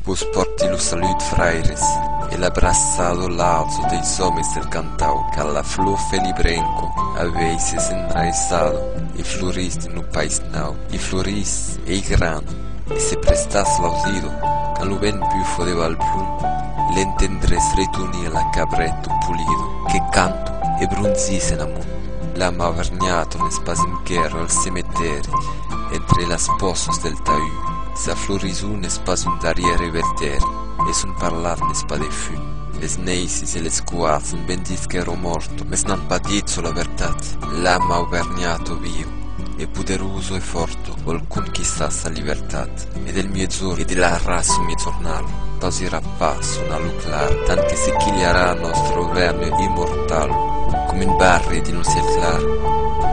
Vos pòrti lo salut, fraires, e l'abraçado lazo deis òmes del cantau, car la flor felibrenco avei se senraissado e florís dins lo país nau, e florís, ei grand, e se prestàs l'ausido, quand lo vent bufo de Valplum, l'entendrés retunir la cabrèt d'un pulido. Que canto e bronzís en amont, la ma vergnatron es pas enquèra al cemetèri, entre las pòsas del taüt. Sa florison n'es pas un darrièr eveltèri, e son parlar n'es pas de fum. Les neisis e les coards son ben disques ro morto, mes n'an pas dit çò la vertat. L'am aubergnat o viu, e poderoso e forto, vòl conquistar sa libertat. E del miègjorn e de la rason miègjornal pausirà pas son alu clar tant que se quilharà nòstre auvergne immortal com un barri dins lo ciel clar,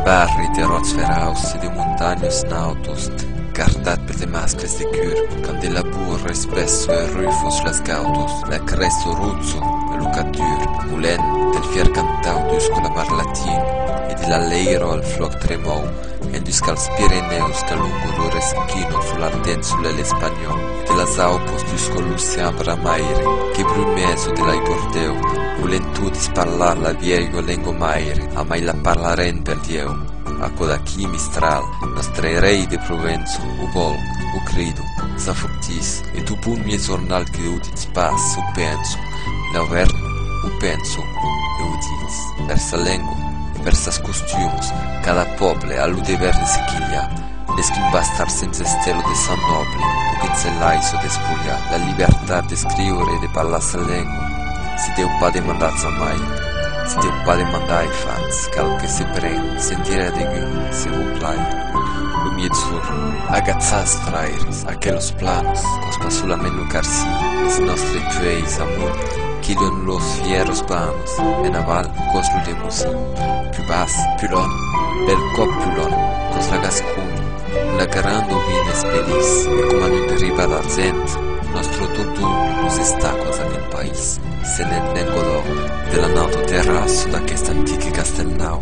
barri de ròcs ferauds e de montanhos nautos. Eth cardat per de mascles de cur, qu'an de labour es pes sue rufos las gautos, la cress o rutzo, e lo cap dur, molent, del fier cantau dus colabar latin, e de l'alleiro al floc tremou, endusca als Pirenèus qu'alongo lo reschino folantent solelh espanhòu, e de las aupos dusco l'ocean bramaire, que brumés o de l'aigordeu, volent todis parlar la vielhua lengo maire, amai la parlarent per Dieu! Aquò d'aquí, Mistral! Mas tre rei de Provença, o vòl, o credo, s'afortís, e tu bon mie jornal que o ditz pas, s'o penso, l'auèrn, o penso, e o ditz, per sa lengua, e per sas costumos, cada pòble a lo dever de se quilhar, mès qu'un bastard sens estel o de sang nòble, o que se laisse despolhar la libertat d'escriure e de parlar sa lengua, se deu pas demandar jamai, se deu pas demandar e fach, cal que se pren, sentire a degun, Se vos plai, lo mietzur, agatzatz fraires aquelos plans, cos pas solament lo carci, es nòstre pueis amunt qui dòn los fièros bans, en aval, cos lo demosin, pus bas, pulon, bèl còp pulon, cos la gasconi, un la garand o vin es pelís, e coma non deriva d'argent, nòstro totun los estacos a nen país, se nen nen godò, de la nauta terra sota aqueste antic e castèl nau,